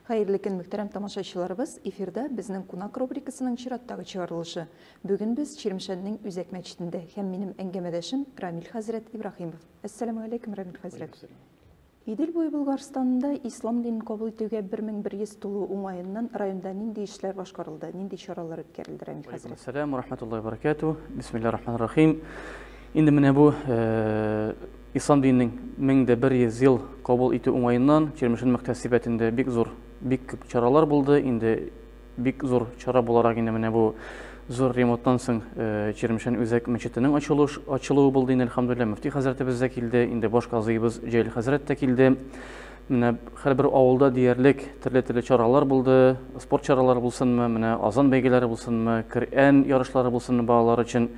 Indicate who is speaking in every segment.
Speaker 1: Хәерле көн, мөхтәрәм тамашачыларыбыз! Эфирда безнең кунак рубрикасының чираттагы чыгарылышы. Бүген без Чирмешәннең Үзәк мәчетендә һәм минем әңгәмәдәшем Рамил хәзрәт Ибраһимов. Әссәламү алейкум, Рамил хәзрәт! Идел буе Болгарстанында ислам динен кабул итүгә 1100 тулу уңаеннан районда нинди эшләр башкарылды, нинди чаралар үткәрелде, Рамил хәзрәт? Алейкум сәлам, рахмәтуллаһи
Speaker 2: баракәтү, бисмиллаһи рахмани рахим. Инде менә бу э, Ислам диненең мең дә бер йөз ел кабул итү уңаеннан Чирмешән мөхтәсибәтендә бик зур, бик күп чаралар булды. Инде бик зур чара буларак инде менә бу зур ремонттан соң Чирмешән үзәк мәчетенең ачылу ачылуы булды инде, әлхәмдүлилләһ. Мөфти хәзрәтебез дә килде, инде баш казыебыз Җәлил хәзрәт тә килде. Менә һәрбер авылда диярлек төрле-төрле чаралар булды, спорт чаралары булсынмы, менә азан бәйгеләре булсынмы, Коръән ярышлары булсынмы балалар өчен.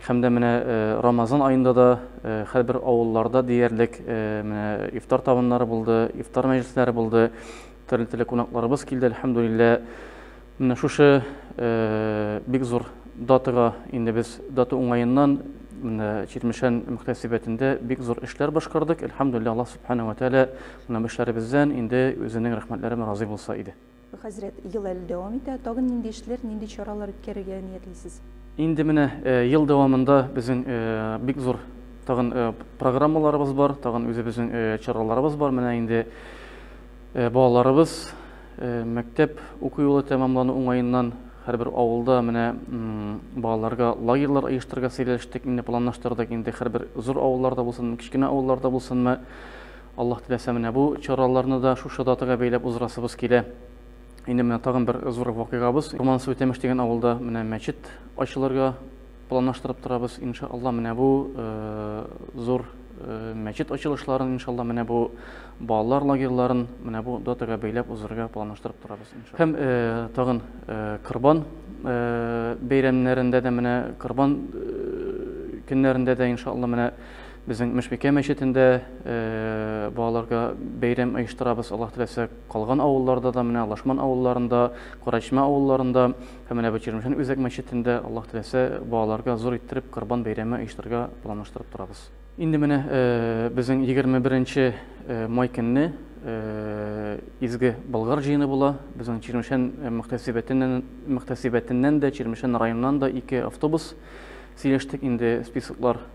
Speaker 2: Һәм дә менә Рамазан аенда да һәрбер авылларда диярлек менә ифтар табыннары булды, ифтар мәҗлесләре булды. Төрле-төрле кунакларыбыз килде, әлхәмдулиллә. Менә шушы бик зур датага инде без дата уңаеннан менә Чирмешән мөхтәсибәтендә бик зур эшләр башкардык. Әлхәмдулиллә, Аллаһ Субхана ва Тәгалә менә бу эшләребездән инде үзенең рәхмәтләре белән разый булса иде. Хәзрәт, ел әле
Speaker 1: дәвам итә. Тагын нинди эшләр, нинди чаралар үткәрергә ниятлисез? Инде менә
Speaker 2: ел дәвамында безнең бик зур тагын программаларыбыз бар, тагын үзебезнең чараларыбыз бар. Менә инде балаларыбыз мәктәп уку юлы тәмамлану уңаеннан һәрбер авылда менә балаларга лагерьлар оештырырга сөйләштек, инде планлаштырдык. Инде һәрбер зур авылларда булсын, кечкенә авылларда булсынмы, Аллаһ теләсә, менә бу чараларны да шушы датага бәйләп уздырасыбыз килә. Инде менә тагын бер зур вакыйгабыз. Урман суе Тәмеш дигән авылда менә мәчет ачылырга планлаштырып торабыз. Инша Аллаһ, менә бу зур мәчет ачылышларын, инша Аллаһ, менә бу балалар лагерьларын менә бу датага бәйләп уздырырга планлаштырып торабыз. Һәм тагын Корбан бәйрәмнәрендә дә, менә Корбан көннәрендә дә, инша Аллаһ, менә Безнең Мөшбикә мәчетендә балаларга бәйрәм оештырабыз, Аллаһ теләсә, калган авылларда да, менә Лашман авылларында, Курачма авылларында һәм менә бу Чирмешән үзәк мәчетендә, Аллаһ теләсә, балаларга зур иттереп Корбан бәйрәме оештырырга планлаштырып торабыз. Инде менә безнең 21 май көнне изге Болгар җыены була. Безнең Чирмешән мөхтәсибәтеннән, мөхтәсибәтеннән дә, Чирмешән районыннан да ике автобус сөйләштек, инде списоклар